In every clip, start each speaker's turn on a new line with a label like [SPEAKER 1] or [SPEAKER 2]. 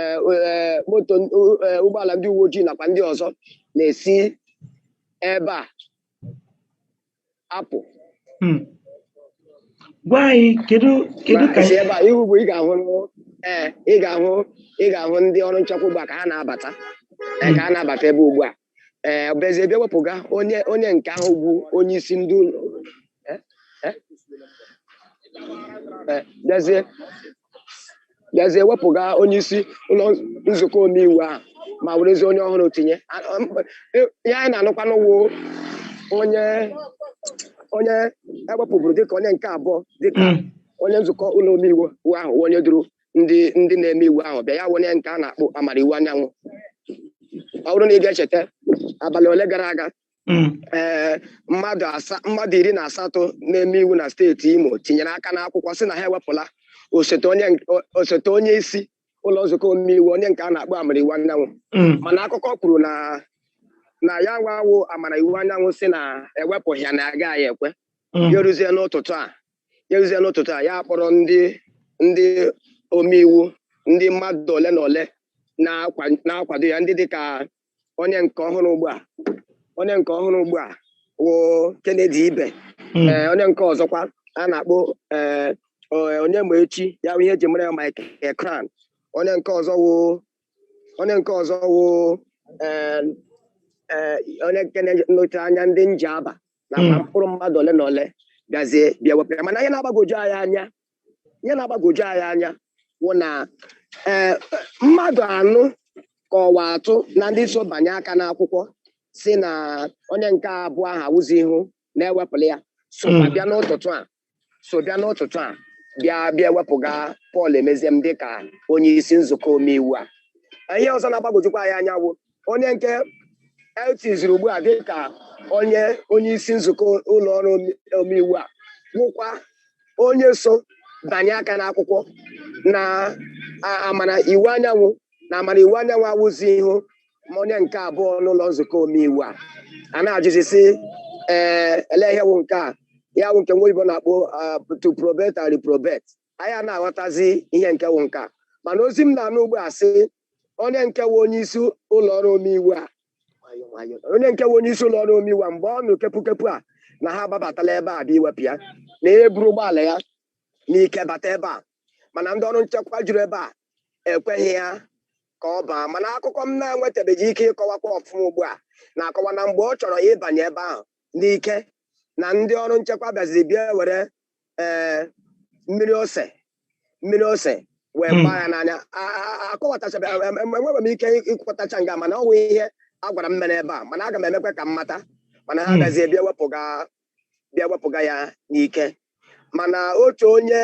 [SPEAKER 1] eh, eh, moto eh, ụgbọala ndị uwe ojii nakwa ndị ọzọ na-esi ebe a apụ hmm.
[SPEAKER 2] gwa anyị kedu kedu ka ebe a ihu bụ ị
[SPEAKER 1] ga-ahụ ee ị ga-ahụ ị ga-ahụ ndị ọrụ nchekwa ugbu a ka ha na-abata ka ha na-abata ebe ugbu a ee bịazie bịa wepụga onye onye nke ahụ bụ onye isi ndị ụlọ Eh, eh. Eh, bịazie bịazie wepụga onye isi ụlọ nzukọ omeiwu ahụ ma werezi onye ọhụrụ tinye A- ọ- mkpa- e- ihe anyị na-anụkwanụ wụ onye onye ewepụburu dịka onye nke abụọ dịka Mm. onye nzukọ ụlọ omeiwu ahụ wụ onye duru ndị ndị na-eme iwu ahụ bịa ya wụ onye nke a na-akpọ Amara Iwuanyanwụ ọ bụrụ na ị ga-echeta abalị ole gara aga mm. ee mmadụ asa mmadụ iri na asatọ na-eme iwu na steeti Imo tinyere aka n'akwụkwọ sị na ha ewepụla osote onye nk- o- osote onye isi ụlọ nzukọ omeiwu onye nke a na-akpọ Amara Iwuanyanwụ Mm. mana akụkọ kwuru na na ya nwa wụ Amara Iwuanyanwụ sị na ewepụghị ya na ya agaghị ekwe Mm. ya eruzie n'ụtụtụ a ya eruzie n'ụtụtụ a ya akpọrọ ndị ndị omeiwu ndị mmadụ ole na ole na-akwa- na-akwado ya ndị dịka onye nke ọhụrụ ugbu a onye nke ọhụrụ ugbu a wụ Kennedy Ibe Mm. ee onye nke ọzọkwa a na-akpọ ee o- Onyemaechi ya bụ ihe eji mara ya Michael Crown onye nke ọzọ wụ onye nke ọzọ wụ ee ee onye nke na-anọchi anya ndị Njaba na ma hmm. mkpụrụ mmadụ ole na ole bịazie bịa wepụ ya mana ihe na-agbagoju anyị anya ihe na-agbagoju anyị anya wụ na eh, mmadụ anọ ka ọ wụ atọ na ndị so banye aka n'akwụkwọ sị na onye nke abụọ ahụ awụzihụ na ewepụla ya so hmm. bịa n'ụtụtụ a so bịa n'ụtụtụ a bịa bịa wepụga Paul Emeziem dịka onye isi nzukọ omeiwu a ihe ọzọ na-agbagojukwa anyị anya wụ onye nke etiziri ugbu a dịka onye onye isi nzukọ ụlọ ọrụ omeiwu a wụkwa onye so banye aka n'akwụkwọ na Amara Iwuanyanwụ na Amara Iwuanyanwụ awụzihụ ma onye nke abụọ n'ụlọ nzukọ omeiwu a a na-ajụzi sị ee ele ihe wụ nke a ya wụ nke nwa oyibo na-akpọ ah, to approbate and reprobate anyị a na-aghọtazi ihe nke wụ nke a mana ozi m na-anụ ugbu a sị onye nke wụ onye isi ụlọ ọrụ omeiwu a nwayọọ, nwayọọ. onye nke wụ onye isi ụlọ ọrụ omeiwu a mgbe ọ nụ kepukepu a na ha agbabatala ebe a bịa iwepụ ya na ya eburu ụgbọala ya n'ike bata ebe a mana ndị ọrụ nchekwa juru ebe a ekweghị ya ka ọ baa mana akụkọ m na-enwetabeghị ike ịkọwakwa ọfụma ugbu a na-akọwa na mgbe ọ chọrọ ịbanye ebe ahụ n'ike na ndị ọrụ nchekwa bịaziri bịa were ee mmiri ose mmiri ose wee hmm. gbaa ya n'anya akọwatachabeghị enweghị m ike ịkọwatacha nga mana ọ wụ ihe a gwara m mere ebe a mana aga m emekwa ka m mata mana ha hmm. bịazie bịa wepụga bịa wepụga ya n'ike mana otu onye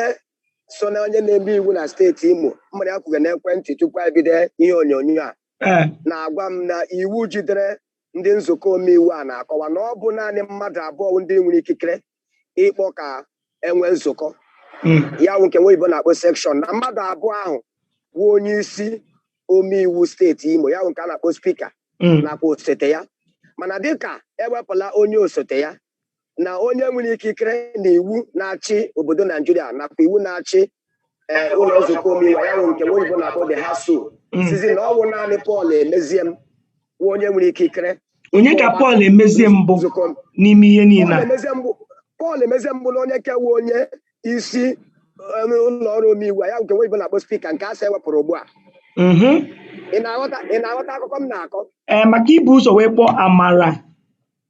[SPEAKER 1] so na onye na-eme iwu na steeti Imo mụ na ya kwuga n'ekwentị tupu anyị ebido ihe onyonyo a eh. na-agwa m na iwu jidere ndị nzukọ omeiwu a na-akọwa na ọ bụ naanị mmadụ abụọ wụ ndị nwere ikikere ịkpọ ka enwe nzukọ hmm. ya wụ nke nwa oyibo na-akpọ sekshọn na mmadụ abụọ ahụ wụ onye isi omeiwu steeti Imo ya wụ nke a na-akpọ spika mm. nakwa osote ya mana dịka ewepụla onye osote ya na onye nwere ikikere na iwu na-achị obodo Naijiria nakwa iwu na-achị eh, ụlọ nzukọ omeiwu ya wụ nke nwa oyibo na-akpọ the House mm. sịzi na ọ wụ naanị Paul Emeziem wụ onye nwere ikikere onye ka Paul
[SPEAKER 2] Emeziem bụ n'ime ihe niile Paul
[SPEAKER 1] Emeziem bụ na onye ka wụ onye isi um, ụlọ ọrụ omeiwu ya nke nwa oyibo na-akpọ spika nke a sị ewepụrụ ugbu a Mhm. ị na-aghọta ị na-aghọta akụkọ m na-akọ Ee, maka i bu ụzọ
[SPEAKER 2] wee kpọọ Amara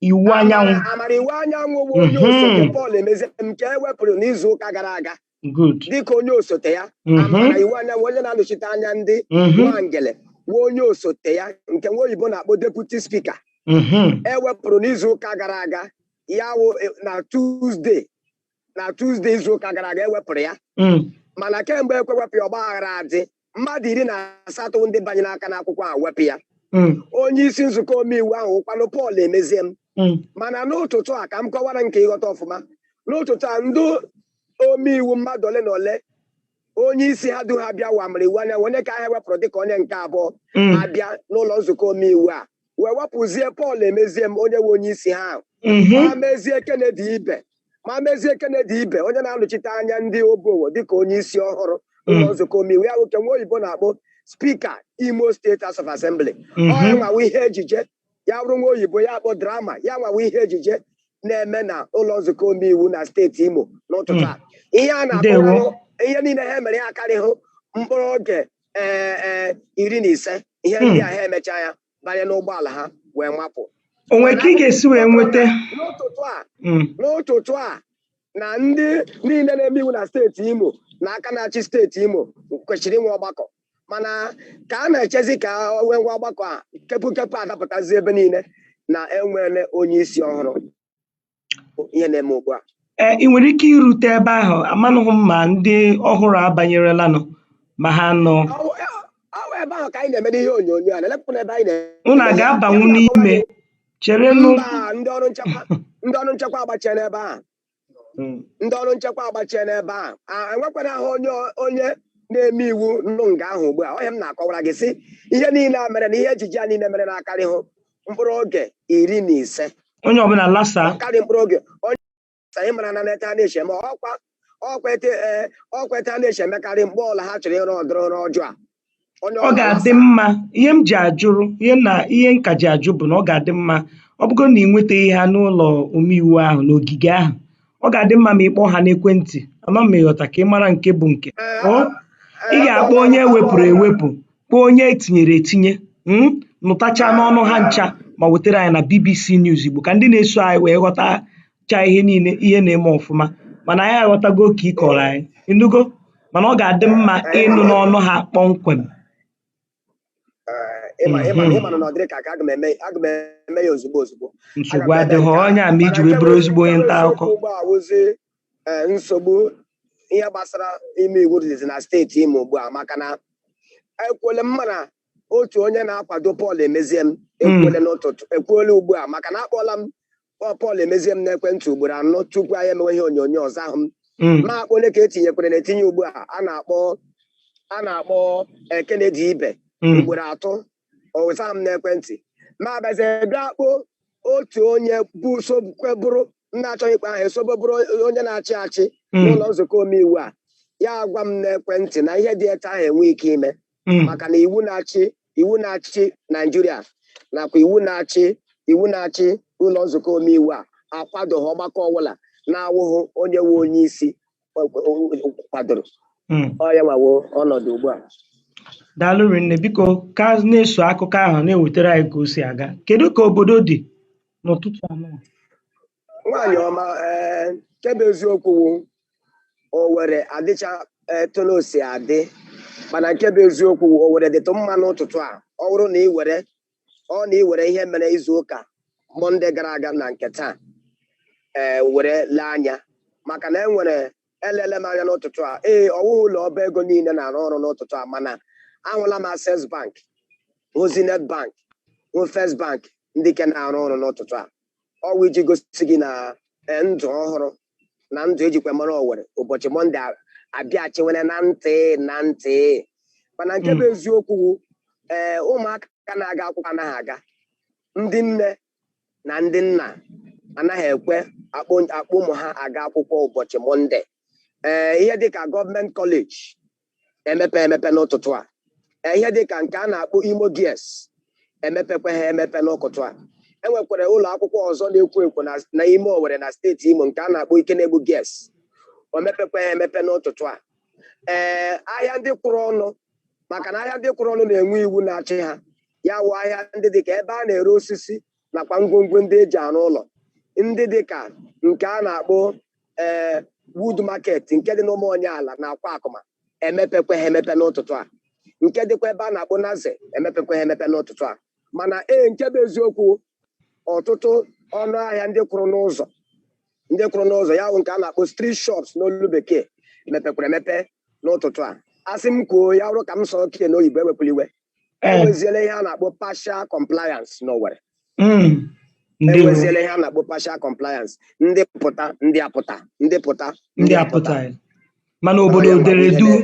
[SPEAKER 2] Iwuanyanwụ Amara- Amara Iwuanyanwụ
[SPEAKER 1] bụ onye Mhm. osote Paul Emeziem nke ewepụrụ n'izu ụka gara aga good dịka onye osote ya Mhm. Amara Iwuanyanwụ onye na-anọchite anya ndị Mhm. Nwangele wụ onye osote ya nke nwa oyibo na-akpọ deputi spika Mhm. ewepụrụ n'izu ụka gara aga ya wụ eh, na Tuesday na Tuesday izu ụka gara aga ewepụrụ ya hmm. mana kemgbe ekwewepụ ya ọgbaaghara adị mmadụ iri na asatọ ndị banyere aka n'akwụkwọ a wepụ ya hmm. onye isi nzukọ omeiwu ahụ wụkwanụ Paul Emeziem hmm. mana n'ụtụtụ a ka m kọwara gị ka ị ghọta ọfụma n'ụtụtụ a ndị omeiwu mmadụ ole na ole onye isi ha du ha bịa wụ Amara Iwuanyanwụ onye ka ha wepụrụ dịka onye nke abụọ mm. abịa n'ụlọ nzukọ omeiwu a wee wepụzie Paul Emeziem onye wụ onye isi ha ahụ mm-hmm. ma mezie Kennedy Ibe ma mezie Kennedy Ibe onye na-anọchite anya ndị Obowo dịka onye isi ọhụrụ mm. ụlọ nzukọ omeiwu ya wụ nke nwa oyibo na-akpọ spika Imo steeti House of Assembly mm-hmm. ọ nwa wụ ihe ejije ya bụrụ nwa oyibo ya akpọ drama ya nwa wụ ihe ejije na-eme na ụlọ nzukọ omeiwu na steeti Imo n'ụtụtụ a ihe a na-akọwahụ ihe niile ha mere ya akarịhụ mkpụrụ oge ee e, iri na ise ihe ndị a ha emechaa ya banye n'ụgbọala ha wee mapụ onwe ka ị
[SPEAKER 2] ga-esi wee nweta n'ụtụtụ a hmm.
[SPEAKER 1] n'ụtụtụ a na ndị niile na-eme iwu na steeti Imo na aka na-achị steeti Imo kwesịrị inwe ọgbakọ mana ka a na-echezi ka wee nwee ọgbakọ a kepu kepu adapụtazi ebe niile na enwere onye isi ọhụrụ ihe na-eme ugbu a ee ị nwere ike
[SPEAKER 2] irute ebe ahụ amanụghị m ma ndị ọhụrụ abanyerelanụ ma ha nọ ọ wụ
[SPEAKER 1] ebe ahụ ka anyị na-eme ihe onyonyo a na-elepụta n'ebe anyị na-eme unu aga-abanwu
[SPEAKER 2] n'ime cherenụ mba ndị ọrụ
[SPEAKER 1] nchekwa ndị ọrụ nchekwa agbachiela ebe a hmm. ndị ọrụ nchekwa agbachie n'ebe a enwekwanahụ onye onye na-eme iwu nọ nga ahụ ugbu a ọ ihe m na-akọwara gị sị ihe niile a mere na ihe ejije a niile mere na akarịhụ mkpụrụ oge iri na ise onye
[SPEAKER 2] ọbụla lasa karị mkpụrụ
[SPEAKER 1] oge onye anyị mara na n'etu a na-eshi eme ọkwa ọkwa etu a e, ọkwa etu a na-eshi emekarị mgbe ọla ha chọrọ ịrụ ụdịrị ọrụ ọjọọ a onye ọ ọ
[SPEAKER 2] ga-adị na-agbasa mma ihe m ji ajụrụ ihe na ihe m ka ji ajụ bụ na ọ ga-adị mma ọ bụgo na ị nwetaghị ha n'ụlọ omeiwu ahụ n'ogige ahụ ọ ga-adị mma ma ị kpọọ ha n'ekwentị ama m ma ị ghọta ka ị mara nke bụ nke ee o a- ị ee ga-akpọ akpọọla m onye ha ewepụrụ akpọọla m ha ewepụ kpọọ onye etinyere etinye mm, nụtacha ee n'ọnụ ha ncha ma wetara anyị na bbc news igbo ka ndị na-eso anyị wee ghọta chaa ihe niile ihe na-eme ọfụma mana anyị aghọtago nke ị kọọrọ anyị ịnụgo mana ọ ga-adị mma ịnụ n'ọnụ ha kpọmkwem Ee,
[SPEAKER 1] ịma ịma Mhm. ịma na ọ dịrị ka aka aga m eme aga m eme ya ozugbo ozugbo nsogbu Aga m eme adịghị
[SPEAKER 2] nke a. ọ ya mere iji Mana wee nke bụrụ bụ ezigbo onye nke bụ nta akụkọ eziokwu ugbu a wụzi ee,
[SPEAKER 1] nsogbu ihe gbasara ime iwu dịzi na steeti imo ugbu a maka na ekwele m mana otu onye na-akwado Paul Emeziem Mm. ekwele n'ụtụtụ ekwele ugbu a maka na akpọla m Ọ Paul Emeziem n'ekwentị ugboro anọ tupu anyị emewe ihe onyonyo ọ zahụ m Mm. mụ akpọọ onye ka etinyekwerenụ etinye ugbu a a na-akpọ a na-akpọ eh, Kennedy Ibe Mm. ugboro atọ ọ zahụ m n'ekwentị mụ abịazie bịa kpọọ otu onye bụ sokwe bụrụ na-achọghị ịkpọ aha ya sobu bụrụ onye na-achị achị Mm. n'ụlọ nzukọ omeiwu a ya agwa m n'ekwentị na ihe dị etu ahụ enweghị ike ime hmm. maka na iwu na-achị iwu na-achị naijiria nakwa iwu na-achị iwu na-achị ụlọ nzukọ omeiwu a akwadoghị ọgbakọ ọbụla na-awụghị onye nwe onye isi kwadoro hmm. ọ ya nwa wụ ọnọdụ ugbu a
[SPEAKER 2] daalụ rinne biko ka na-eso akụkọ ahụ na-ewetara anyị ka o si aga kedu ka obodo dị n'ụtụtụ a
[SPEAKER 1] nwaanyị ọma ee nke bụ eziokwu wụ owere adịcha etu ọ na-esi adị mana nke bụ eziokwu wụ owere dịtụ mma n'ụtụtụ a ọ bụrụ na ị were ọ na ị were ihe mere izu ụka mọnde gara aga na nke taa ee were lee anya maka na enwere elele m anya n'ụtụtụ a ee ọwụghị ụlọ ọba ego niile na-arụ ọrụ n'ụtụtụ a mana ahụla m access bank hụ zenith bank hụ first bank ndị ke na-arụ ọrụ n'ụtụtụ a ọwụ iji gosi gị na eh, ndụ ọhụrụ na ndụ ejikwa mara Owerri ụbọchị mọnde abịachiwere na ntị na ntị mana nke bụ hmm. eziokwu ee eh, ụmụaka na-aga akwụkwọ anaghị aga ndị nne na ndị nna anaghị ekwe akpọ ụmụ ha aga akwụkwọ ụbọchị mọnde ee eh, ihe dịka gọọmenti kọleji emepe emepe n'ụtụtụ a e, ihe dị ka nke a na-akpọ Imo Girls emepekwa ha emepe n'ụtụtụ a enwekwara ụlọ akwụkwọ ọzọ na-ekwo ekwo na ime Owerri na steeti Imo nke a na-akpọ Ikenegbu Girls o mepekwa ha emepe n'ụtụtụ a ee ahịa ndị kwụrụ ọnụ maka na ahịa ndị kwụrụ ọnụ na-enwe iwu na-achị ha ya wụ ahịa ndị dị ka ebe a na-ere osisi nakwa ngwongwo ndị eji arụ ụlọ ndị dị ka nke a na-akpọ ee eh, wood market nke dị n'Ụmụonyeala na Akwakụma emepekwa ha emepe n'ụtụtụ a nke dịkwa ebe a na-akpọ Naze emepekwa ha emepe n'ụtụtụ a mana ee nke bụ eziokwu ọtụtụ ọnụ ahịa ndị kwụrụ n'ụzọ ndị kwụrụ n'ụzọ ya bụ nke a na-akpọ street shops n'olu bekee mepekwara emepe n'ụtụtụ a asị m kwuo ya wụrụ ka m sụọkene ya n'oyibo ewekwala iwe Eh. enweziela ihe a na-akpọ partial compliance n'Owerri Mm. Ndewo. enweziela ihe a na-akpọ partial compliance ndị pụta ndị apụta ndị pụta ndị apụtaghị
[SPEAKER 2] mana obodo dere duu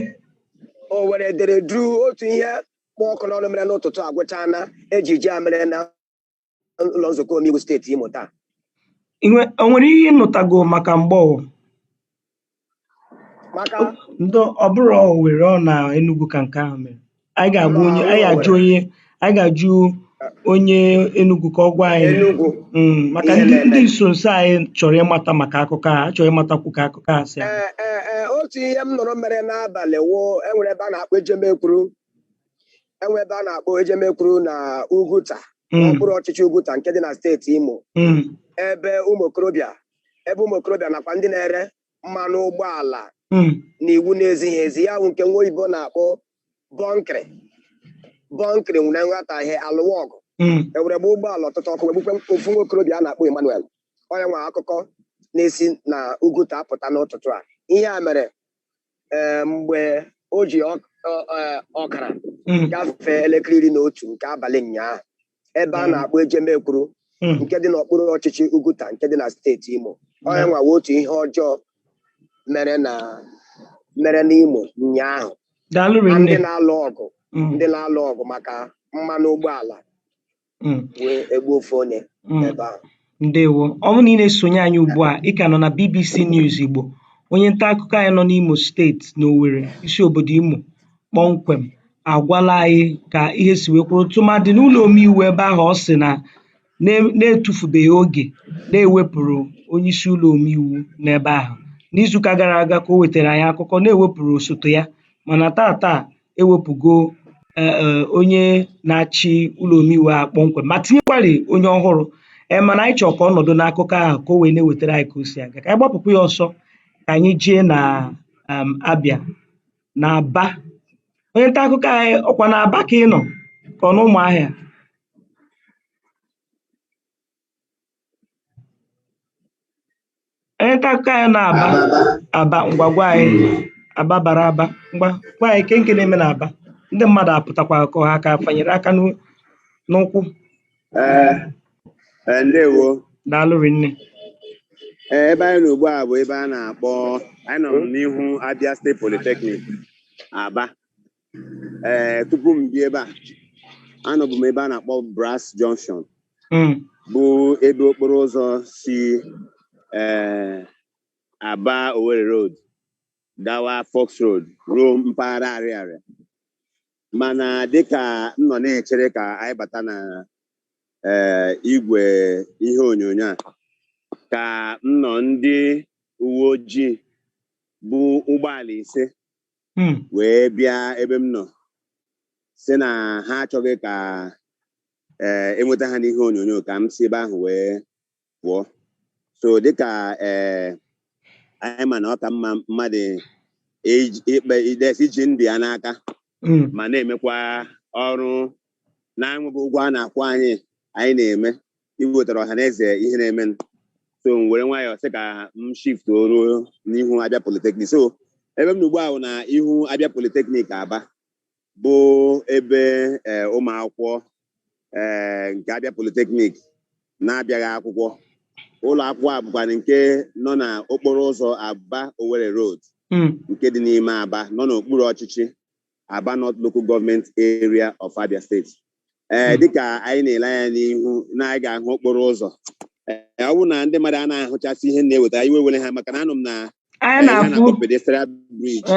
[SPEAKER 2] Owerri
[SPEAKER 1] dere duu otu ihe kpụ ọkụ n'ọnụ mere n'ụtụtụ a gwụchana ejije a mere na ụlọ nzukọ omeiwu steeti Imo taa Inwe
[SPEAKER 2] o nwere ihe ị nụtago maka Mgbowo? maka Ndo ọ
[SPEAKER 1] bụrọ
[SPEAKER 2] Owerri ọ na Enugu ka nke ahụ mere. Anyị ga-agwa Mba, onye ọ anyị ga-ajụ Owerri. onye anyị ga-ajụ onye Enugu ka ọ gwa anyị. Enugu
[SPEAKER 1] Mm, maka ihe ndị
[SPEAKER 2] na-eme. ndị nso
[SPEAKER 1] nso
[SPEAKER 2] anyị chọrọ ịmata maka akụkọ a, a chọrọ ịmatakwu ka akụkọ a si aga. ee ee ee otu ihe m
[SPEAKER 1] nụrụ mere n'abalị wụ enwere ebe a na-akpọ Ejemekwuru enwe ebe a na-akpọ Ejemekwuru na Uguta mm. n'okpuru ọchịchị Uguta nke dị na steeti Imo mm. ebe ụmụ okorobịa ebe ụmụ okorobịa nakwa ndị na-ere mmanụ ụgbọala mm. na iwu na-ezighị ezi ya bụ nke nwa oyibo na-akpọ bunkery bunkery nwere nghọtahie alụwa ọgụ ewere gbaa ụgbọala ọtụtụ ọkụ wee gbukwe ofu nwa okorobịa a na-akpọ Emmanuel ọ ya nwa akụkọ na-esi na Uguta apụta n'ụtụtụ a ihe a mere ee mgbe o ji ọk- ọ- ọ- ọkara Mm, gafee elekere iri na otu nke abalị ụnyaahụ ebe a Mm. na-akpọ Ejemekwuru mm, nke dị n'okpuru ọchịchị Uguta nke dị na steeti Imo ọ ya nwa wụ otu ihe ọjọọ mere na mere n'Imo ụnyaahụ daalụ ma ndị rinne na-alụ ọgụ Mm, ndị na-alụ ọgụ maka mmanụ ụgbọala Mm. wee egbu ofu onye Mm. ebe ahụ ndewo ọ
[SPEAKER 2] bụrụ na ị na-esonye anyị ugbu a ị ka nọ na bbc news igbo onye nta akụkọ anyị nọ n'imo steeti n'owere isi obodo imo kpọmkwem agwala anyị ka ihe si wee kwụrụ tụmadị n'ụlọ omeiwu ebe ahụ ọ sị na na- na-etufubeghị oge na e wepụrụ onye isi ụlọ omeiwu n'ebe ahụ n'izuụka gara aga ka o wetara anyị akụkọ na e wepụrụ osote ya mana tata ewepụgo e, e, onye na-achị ụlọ omeiwu a kpọmkwem ma tinyekwari onye ọhụrụ e, mana anyị chọrọ ka ọ nọdụ n'akụkọ ahụ ka o wee na-ewetara anyị ka o si aga ka anyị gbapụkwa ya ọsọ ka anyị jee na um, abịa na aba onye nta akụkọ anyị ọkwa na aba ka ị nọ ka ọ na ụmụahịa Onye nta akụkọ anyị na Aba Aba ngwa gwa anyị Aba bara Aba ngwa gwa anyị ke nke na-eme na Aba ndị mmadụ apụtakwa ka ọ ha ka fanyere aka n'u- n'ụkwụ
[SPEAKER 3] Ee, ee, ndewo daalụ
[SPEAKER 2] rinne Ee,
[SPEAKER 3] ebe anyị nọ ugbu a bụ ebe a na-akpọ anyị nọ n'ihu Abia State Polytechnic Aba ee tupu m bịa ebe a anọbu m ebe a na-akpọ Brass Junction Mm. bụ ebe okporo ụzọ si ee Aba Owerri Road gawa Faulks Road ruo mpaghara Arịarịa mana dịka m nọ na-echere ka anyị bata na ee igwe ihe onyonyo a ka m nọ ndị uwe ojii bu ụgbọala ise hmm. wee bịa ebe m nọ sị na ha achọghị ka ee eh, enweta ha n'ihe onyonyo ka m si ebe ahụ wee pụọ so dịka ee eh, anyị ma na ọ ka mma mmadụ ikpe idesi iji ndụ ya n'aka hmm. ma na-emekwa ọrụ na-enweghị ụgwọ a na-akwụ anyị anyị na-eme iwetara ọha na eze ihe na-eme so m were nwayọọ sị ka m shift ruo n'ihu Abia Polytechnic so ebe m nọ ugbu a bụ na ihu Abia Polytechnic Aba bụ ebe eh, ụmụ akwụkwọ eh, nke Abia Polytechnic na-abịagha akwụkwọ ụlọ akwụkwọ a bụkwa nke nọ na okporo ụzọ aba Owerri road hmm. nke dị n'ime aba nọ n'okpuru ọchịchị Aba North Local Government Area of Abia State ee hmm. dịka anyị na-ele anya n'ihu na anyị ga-ahụ okporo ụzọ ee ọ bụrụ na ndị mmadụ anaghị ahụchasị ihe m na-eweta iwe ewele ha maka na anọ m na pedestrian bridge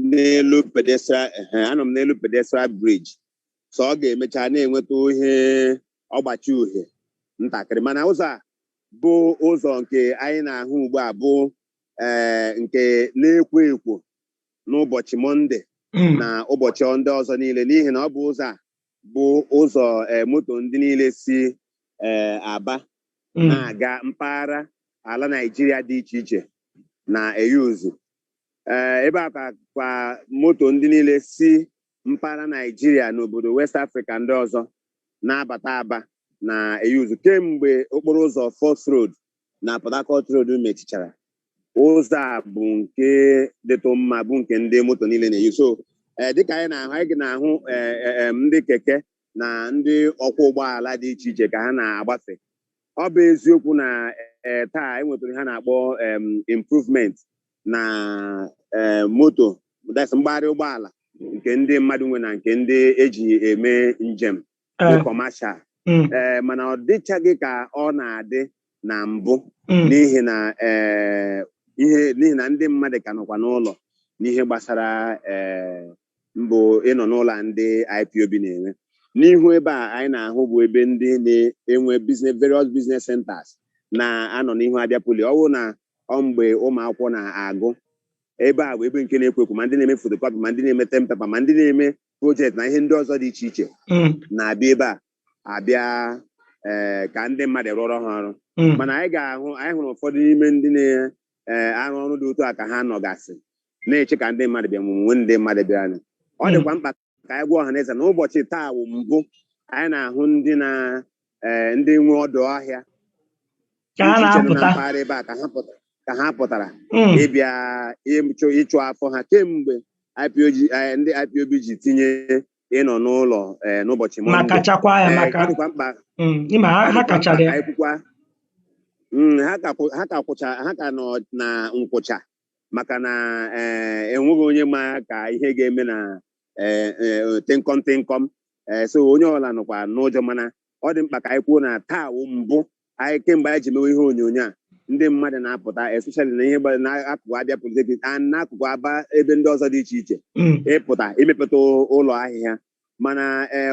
[SPEAKER 2] n'elu
[SPEAKER 3] pedestrian anọ m n'elu pedestrian bridge so ọ ga-emecha na-enweta ihe ọgbachi uhie ntakịrị mana ụzọ a bụ ụzọ nke anyị na-ahụ ugbu a bụ ee eh, nke na-ekwo ekwo n'ụbọchị mọnde hmm. na ụbọchị ndị ọzọ niile n'ihi na ọ bụ ụzọ a bụ ụzọ eh, moto ndị niile si eh, aba hmm. na-aga mpaghara ala naijiria dị iche iche na-eyuzu ebe a ka kwa moto ndị niile si mpaghara naijiria na obodo west afrịka ndị ọzọ na-abata aba na-eyuzu kemgbe okporo ụzọ Faulks Road na Port Harcourt Road mechichara ụzọ a bụ nke dịtụ mma bụ nke ndị moto niile na-eyi so eh, dịka anyị na-ahụ anyị na-ahụ eh, eh, em, ndị keke na ndị ọkwọ ụgbọala dị iche iche ka ha na-agbafe ọ bụ eziokwu na eh, taa e nwetara ihe a na-akpọ em, improvement na eh, moto that's mgbagharị ụgbọala nke ndị mmadụ nwe na nke ndị eji eme njem dị Eh, kọmashal mm, ee mana ọ dịchaghị ka ọ na-adị na mbụ mm, n'ihi na ee ihe n'ihi na ndị mmadụ ka nọkwa n'ụlọ n'ihe gbasara ee mbụ ịnọ n'ụlọ a ndị IPOB na-enwe n'ihu ebe a anyị na-ahụ bụ ebe ndị na-enwe various business centers na-anọ n'ihu Abia Poly ọ bụrụ na ọ mgbe ụmụ akwụkwọ na-agụ ebe a bụ ebe nke na-ekwo ekwo ma ndị na-eme photocopy ma ndị na-eme term paper ma ndị na-eme project na ihe ndị ọzọ dị iche iche mm, na-abịa ebe a abịa ee ka ndị mmadụ rụọrọ ha ọrụ mm, mana anyị ga-ahụ anyị hụrụ ụfọdụ n'ime ndị na-arụ ọrụ dị otu a ka ha nọgasị na-eche ka ndị mmadụ bịa ma o nwere ndị mmadụ bịaranụ. ọ Mm. dịkwa mkpa ka anyị gwa ọha na eze na ụbọchị taa wụ mbụ anyị na-ahụ ndị na ee eh, ndị nwe ọdụ ahịa na mpaghara ebe a ka ha pụtara hmm. ịbịa ịchụ afọ ha kemgbe eh, ndị IPOB ji tinye ịnọ n'ụlọ eh, n'ụbọchị Mọnde ma kachakwa ya maka mkpa hmm, ha kachara ya hmm, ha ka kwụcha ha ka nọ na nkwụcha maka na enweghị onye ma ka ihe ga-eme na eh, eh, tịnkọm tịnkọm ee eh, so onye ọbụla nọkwa n'ụjọ mana ọ dị mkpa ka anyị kwuo na taa wụ mbụ anyị kemgbe anyị ji mewe ihe onyonyo a ndị mmadụ na-apụta especially na ihe gbara n'akụkụ Abia Polytechnic a n'akụkụ aba ebe ndị ọzọ dị iche iche hmm. ịpụta imepụta ụlọ ahịa ha mana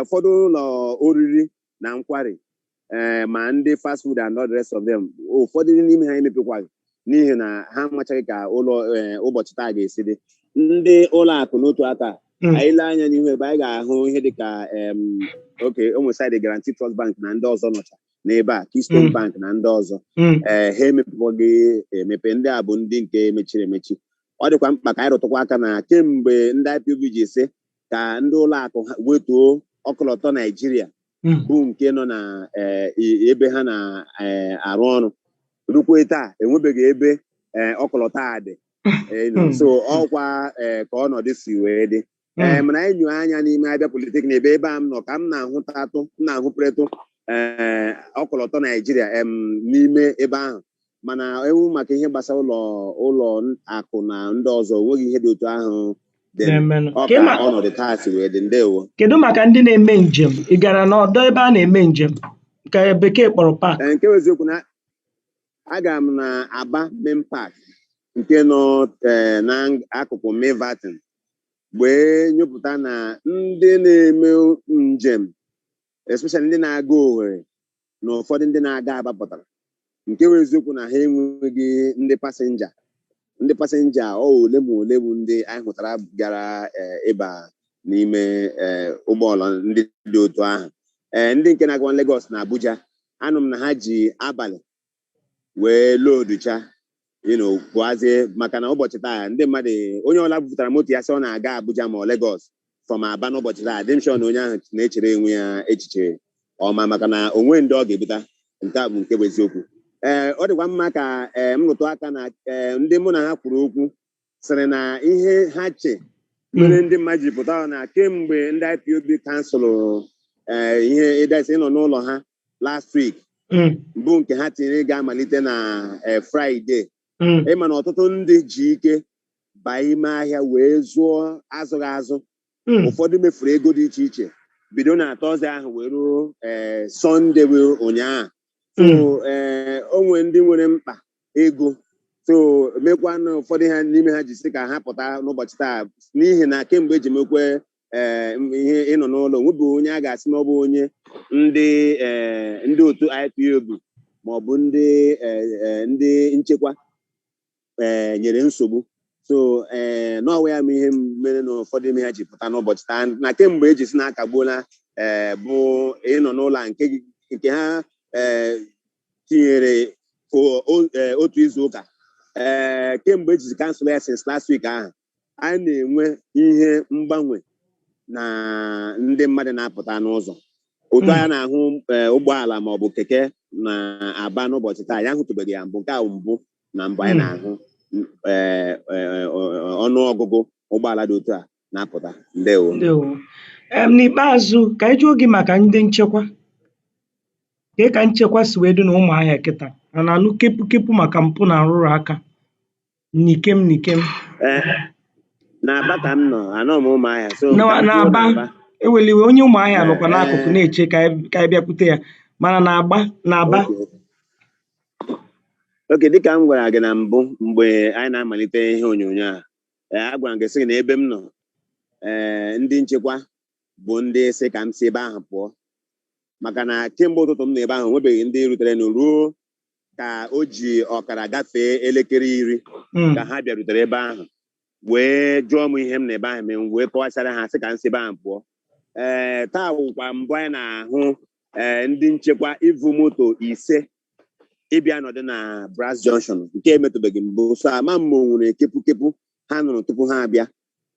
[SPEAKER 3] ụfọdụ ụlọ oriri na nkwari ee eh, ma ndị fast food and all the rest of them ụfọdụ n'ime ha emepekwaghị n'ihi na ha amachaghị ka ụlọ eh, ụbọchị taa ga-esi dị ndị ụlọ akụ n'otu aka hmm. anyị lee anya n'ihu ebe anyị ga-ahụ ihe dị ka oke ụmụsaid Guaranty Trust Bank na ndị ọzọ nọcha n'ebe a Keystone hmm. bank na ndị ọzọ hmm. ee eh, ha emepekwaghị emepe ndị a bụ ndị nke mechiri emechi ọ dịkwa mkpa ka anyị rụtụkwa aka na kemgbe ndị IPOB ji ise ka ndị ụlọ akụ wetuo ọkọlọtọ Naijiria Hmm. bụ nke nọ na eh, i- ebe ha na-arụ ọrụ rukwe taa enwebeghị ebe eh, ọkọlọtọ a dị Eh, you know, Hmm. so ọkwa eh, ka ọnọdụ si wee dị ee Hmm. mana anyị nyụọ anya n'ime Abia Polytechnic ebe ebe a m nọ ka m na-ahụpụretụ ee ọkọlọtọ Naijiria em n'ime ebe ahụ mana ewu maka ihe gbasara ụlọ ụlọ akụ na ndị ọzọ onweghị ihe dị otu ahụ dị ọ ka ọnọdụ taa si wee dị ndewo kedu maka ndị na-eme
[SPEAKER 2] njem ị gara n'ọdọ ebe a na-eme njem nke bekee kpọrọ park Ee, nke wụ eziokwu
[SPEAKER 3] na agara m na Aba Main Park nke nọ ee, n'akụkụ Milverton wee nyopụta na ndị na-eme njem especially ndị na-aga Owerri na ụfọdụ ndị na-aga Aba pụtara nke wụ eziokwu na ha enweghị ndị pasenja ndị pasenja ọ ole ma ole bụ ndị anyị hụtara gara eh, ịba n'ime eh, ụgbọala ndị dị otu ahụ eh, ndị nke na-agawa Lagos na Abuja anụ m na ha ji abalị wee loduchanụ pụazie maka na ụbọchị taa ndị mmadụ onye ọbụla bupụtara moto ya sị ọ na-aga Abuja ma ọ Lagos from Aba n'ụbọchị taa dị m sure na onye ahụ na-echere onwe ya echiche ọma maka na onwe ndị ọ ga-ebuta nke a bụ nke bụ eziokwu ee ọ dịkwa mma ka ee m rụtụ aka na ee ndị mụ na ha kwuru okwu sịrị na ihe ha che mere ndị mmadụ ji pụta na kemgbe ndị IPOB kansụlụ eh, ihe ịdasi ịnọ n'ụlọ ha last week Mm, bụ nke ha tinyere ga-amalite na eh, Fraịde mm, ịma na ọtụtụ ndị ji ike baa ime ahịa wee zụọ azụghị azụ mm. ụfọdụ mefuru ego dị iche iche bido na tọzde ahụ wee ruo ee sọnde bụ ụnyaahụ so Mm. ee o nwe ndị nwere mkpa ego so mekwa na ụfọdụ ha n'ime ha ji sị ka ha pụta n'ụbọchị taa n'ihi na kemgbe eji mekwe ee m- ihe ịnọ n'ụlọ nwebụ onye a ga-asị na ọ bụ onye ndị ee ndị otu IPOB ma ọ bụ ndị ee, ee, ndị nchekwa ee eh, nyere nsogbu so ee eh, n'ọwa ya ma ihe mere na ụfọdụ ime ha ji pụta n'ụbọchị taa na kemgbe eji sị na akagbuola ee eh, bụ ịnọ n'ụlọ nke ha ee tinyere otu izu ụka ee kemgbe ejizi kansụl ya since last week ahụ anyị na-enwe ihe mgbanwe na ndị mmadụ na-apụta n'ụzọ otu anyị na-ahụ eh, ụgbọala ma ọ bụ keke na Aba n'ụbọchị taa anyị ahụtụbeghị ya mbụ nke a wụ mbụ na mbụ anyị na-ahụ eh, eh, ọnụ ọgụgụ ụgbọala dị otu a na-apụta ndewo ndewo
[SPEAKER 2] em n'ikpeazụ ka anyị jụọ gị maka ndị nchekwa kee ka nchekwa si wee dị na Ụmụahịa kịta a na-anụ kepu kepu maka mpụ na nrụrụ aka N'ikem n'ikem.
[SPEAKER 3] Ee, na Aba ka m nọ, anọ m Ụmụahịa. So ka Na m kwuo n'Aba,
[SPEAKER 2] n'Aba. ewela iwe, onye Ụmụahịa Ee, nọkwa n'akụkụ ee, na-eche ka anyị ka anyị bịakwute ya. Mana n'Aba, n'Aba,
[SPEAKER 3] okay. Oke, dịka m gwara gị na mbụ mgbe anyị na-amalite ihe onyonyo a, ee, agwara m gị sị gị na ebe m nọ, ee, ndị nchekwa bụ ndị sị ka m si ebe ahụ pụọ. Maka na kemgbe ụtụtụ m nọ ebe ahụ, enwebeghị ndị ruterenụ ruo ka o ji ọkara gafee elekere iri hmm. ka ha bịarutere ebe ahụ wee jụọ m ihe m nọ ebe ahụ eme wee kọwachaara ha asị ka m si ebe ahụ pụọ ee eh, taa wụkwa mbụ anyị na-ahụ ee eh, ndị nchekwa ivu moto ise ịbịa nọdụ na Brass Junction nke emetụbeghị mbụ so ama m ma o nwere kepukepu ha nụrụ tupu ha abịa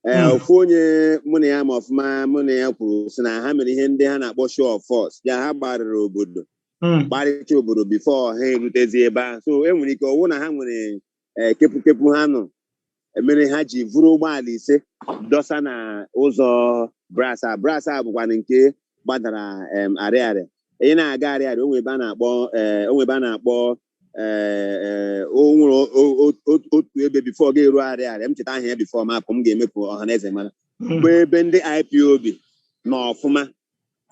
[SPEAKER 3] ee Hmm. ofu onye mụ na ya ma ọfụma mụ na ya kwuru sị na ha mere ihe ndị ha na-akpọ show of force ya ha gbarịrị obodo Mm. gbarịcha obodo bifo ha erutezi ebe ahụ so e nwere ike ọ wụ na ha nwere ee, kepukepu ha nụrụ mere ha ji vuru ụgbọala ise dọsa na ụzọ Brass a Brass a bụkwanụ nke gbadara em, arịarịa ị na-aga arịarịa o nwe ebe a na-akpọ ee, o nwe ebe a na-akpọ ee ee, o nwere o- o- o- otu otu ebe bifo ọ ga-eru arịarịa m cheta aha ya bifo m apụ m ga-eme ka ọha na eze mara bụ ebe ndị ipob nọ ọfụma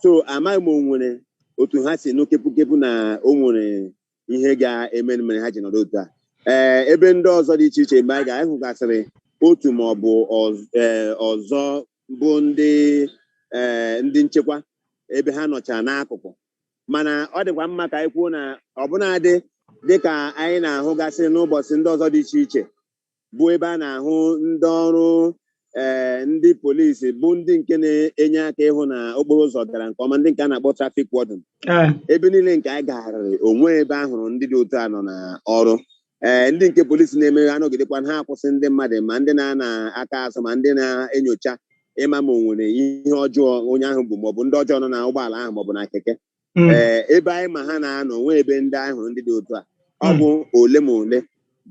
[SPEAKER 3] so amaghị m o nwere otu ha si nụ kepukepu na o nwere ihe ga-eme mere ha ji nọrọ otu a ee ebe ndị ọzọ dị iche iche mgbe anyị ga anyị hụgasịrị otu ma ọ bụ ọz- ee, ọzọ bụ ndị ee, ndị nchekwa ebe ha nọcha n'akụkụ mana ọ dịkwa mma ka anyị kwuo na ọbụnadị dịka anyị na-ahụgasị n'ụbọchị ndị ọzọ dị iche iche bụ ebe a na-ahụ ndị ọrụ ee eh, ndị polisi bụ ndị nke na-enye aka ịhụ na okporo ụzọ gara nke ọma ndị nke a na-akpọ traffic warden ebe niile nke anyị gagharịrị o nwe ebe a hụrụ ndị dị otu a nọ n'ọrụ ee eh, ndị nke polisi na-eme ha nọgidekwa ha akwụsị ndị mmadụ ma ndị na-ana aka azụ ma ndị na-enyocha ịma ma o nwere ihe ọjọọ onye ahụ bu maọbụ ndị ọjọọ nọ na ụgbọala ahụ maọbụ na keke hmm. ee eh, ebe anyị ma ha na-anọ o nwe ebe ndị anyị hụrụ ndị dị otu a ọ hmm. bụ ole ma ole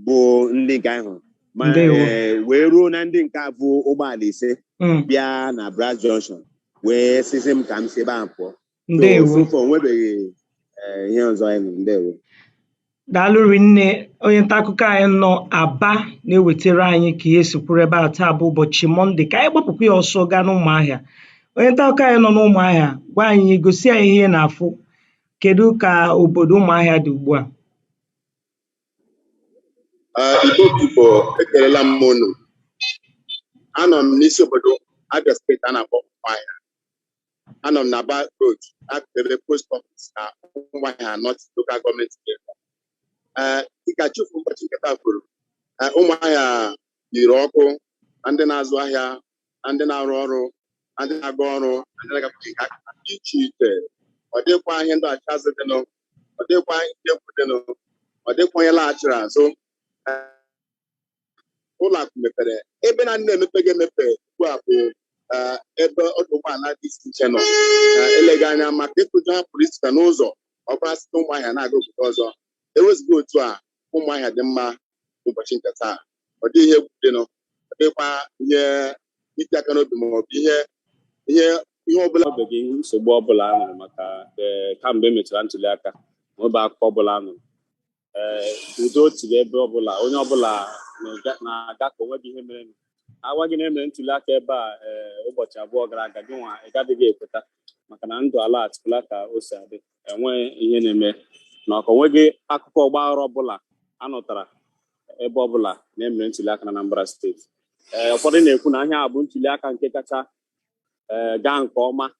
[SPEAKER 3] bụ ndị nke anyị hụrụ ma eh, wee ruo na ndị nke a vu ụgbọala ise hmm. bịa na Brass Junction wee sịzị m ka m si ebe ahụ pụọ ndewo so far o nwebeghị eh, ihe ọzọ anyị nụrụ ndewo
[SPEAKER 2] daalụ rinne onye nta akụkọ anyị nọ aba na-ewetara anyị ka ihe si kwụrụ ebe a taa bụ ụbọchị mọnde ka anyị gbapụkwa ya ọsọ gaa n'ụmụahịa onye nta akụkọ anyị nọ n'ụmụahịa gwa anyị gosi anyị ihe ị na-afụ kedu ka obodo ụmụahịa dị ugbu
[SPEAKER 4] a Ah, Igbo Igbo ekelela m unu anọ m n'isi obodo Abia steeti a na-akpọ Ụmụahịa anọ m na aba road n'akụkụ ebe post office na ụmụahịa north local gọọmenti area ee dịka chi ụbọchị nke taa kwuru ee, ụmụahịa yiri ọkụ na ndị na-azụ ahịa na ndị na-arụ ọrụ na ndị na-aga ọrụ na ndị na-agapụ nke aka ha dị iche iche ọ dịghịkwa ihe ndọghachi azụ dịnụ ọ dịghịkwa ihe egwu dịnụ ọ dịghịkwa onye laghachiri azụ ụlọ akụ mepere ebe naanị na-emepeghị emepe ugbu a bụ eh, ebe ọdụ ụgbọala dị iche iche nọ Eh, eleghị anya maka ịtụ ụjọ ha pụrụ iche n'ụzọ ọ bụla site ụmụahịa na-aga obodo ọzọ ewezụga otu a ụmụahịa dị mma ụbọchị nke taa ọ dịghị ihe egwu dịnụ ọ dịghịkwa ihe iti aka n'obi ma ọ bụ ihe ihe ihe ọbụla ọ bụghị nsogbu
[SPEAKER 5] ọbụla a nụrụ maka ee, kamgbe e mechara ntuli aka ma ọ bụ akụkọ ọbụla a nụrụ ee udo dịrị ebe ọbụla onye ọbụla na-aga- na-aga ka onweghị ihe mere agwa gị na emere ntuli aka ebe a ee ụbọchị abụọ gara aga gị nwa ị gadịghị ekweta maka na ndụ alaghachila ka o si adị enweghị ihe na-eme na ọka onweghị akụkọ ọgbaghara ọbụla a nụtara ebe ọbụla na emere ntuli aka na Anambra steeti ee ụfọdụ na-ekwu na ihe a bụ ntuli aka nke kacha ee gaa nke ọma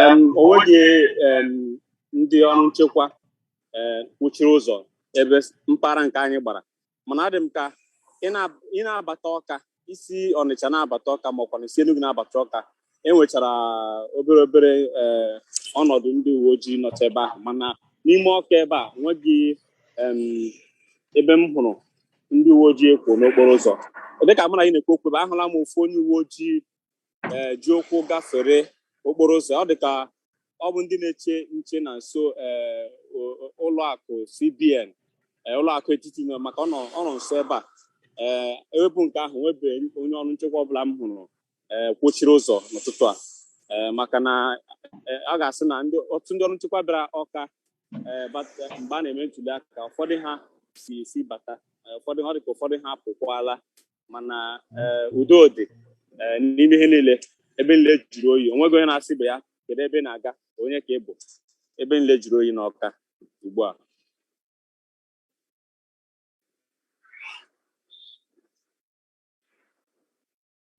[SPEAKER 5] Em, o nweghị em, ndị ọrụ nchekwa eh, kwụchiri ụzọ ebe s- mpaghara nke anyị gbara mana adị m ka ị na- ị na-abata ọka i si ọnịcha na-abata ọka makwa na i si enugwu na-abata ọka enwechara obere obere eh, ọnọdụ ndị uwe ojii nọcha ebe ahụ mana n'ime ọka ebe a nweghị em, ebe m hụrụ ndị uwe ojii ee kwụ n'okporo ụzọ dịka mụ na gị na-ekwu okwu ebe a ahụla m ofu onye uwe ojii ee ji ụkwụ gafere okporo ụzọ ọ dị ka ọ bụ ndị na-eche nche na nso ee o- o- ụlọ akụ CBN ee, ụlọ akụ etiti nọ maka ọ nọ ọ nọ nso ebe a ee ewepụ nke ahụ o nwebeghị onye ọrụ nchekwa ọbụla m hụrụ ee kwụchiri ụzọ n'ụtụtụ a ee maka na ee, a ga-asị na ndị ọtụtụ ndị ọrụ nchekwa bịara ọka ee bata mgbe a na-eme ntuli aka ụfọdụ ha si si bata ee, ụfọdụ ọ dị ka ụfọdụ ha apụkwala mana eh, udo dị eh, n'ime ihe niile ebe niile jụrụ oyi onweghị onye na-asị ibe ya kedu ebe ị na-aga onye ka ị bụ ebe niile jụrụ oyi n'ọka ugbu a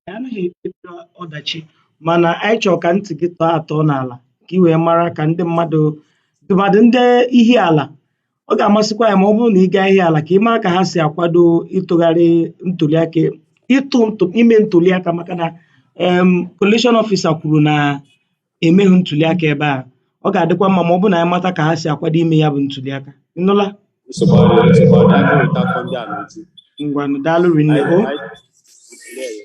[SPEAKER 2] anyị anaghị ekpebiri ọdachi mana anyị chọrọ ka ntị gị tọọ atọ n'ala ka ị wee mara ka ndị mmadụ tụmadị ndị ihiala ọ ga-amasịkwa anyị ma ọ bụrụ na ị gaa ihiala ka ị mara ka ha si akwado ịtụgharị ntụliaka ịtụ ntụ ime ntụliaka maka na em collation officer kwuru na emeghị ntụliaka ebe a ọ ga-adịkwa mma ma ọ bụrụ na anyị mata ka ha si akwado ime ya bụ ntụliaka ịnụla nsogbu ọ dị nsogbu ọ dị anyị ga-eweta akụkọ ndị a n'uju ngwanụ daalụ rinne anyị o anyị ndewo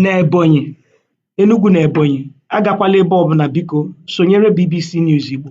[SPEAKER 2] n'ebonyi enugu na ebonyi agakwala ebe ọbụna biko sonyere bbc news igbo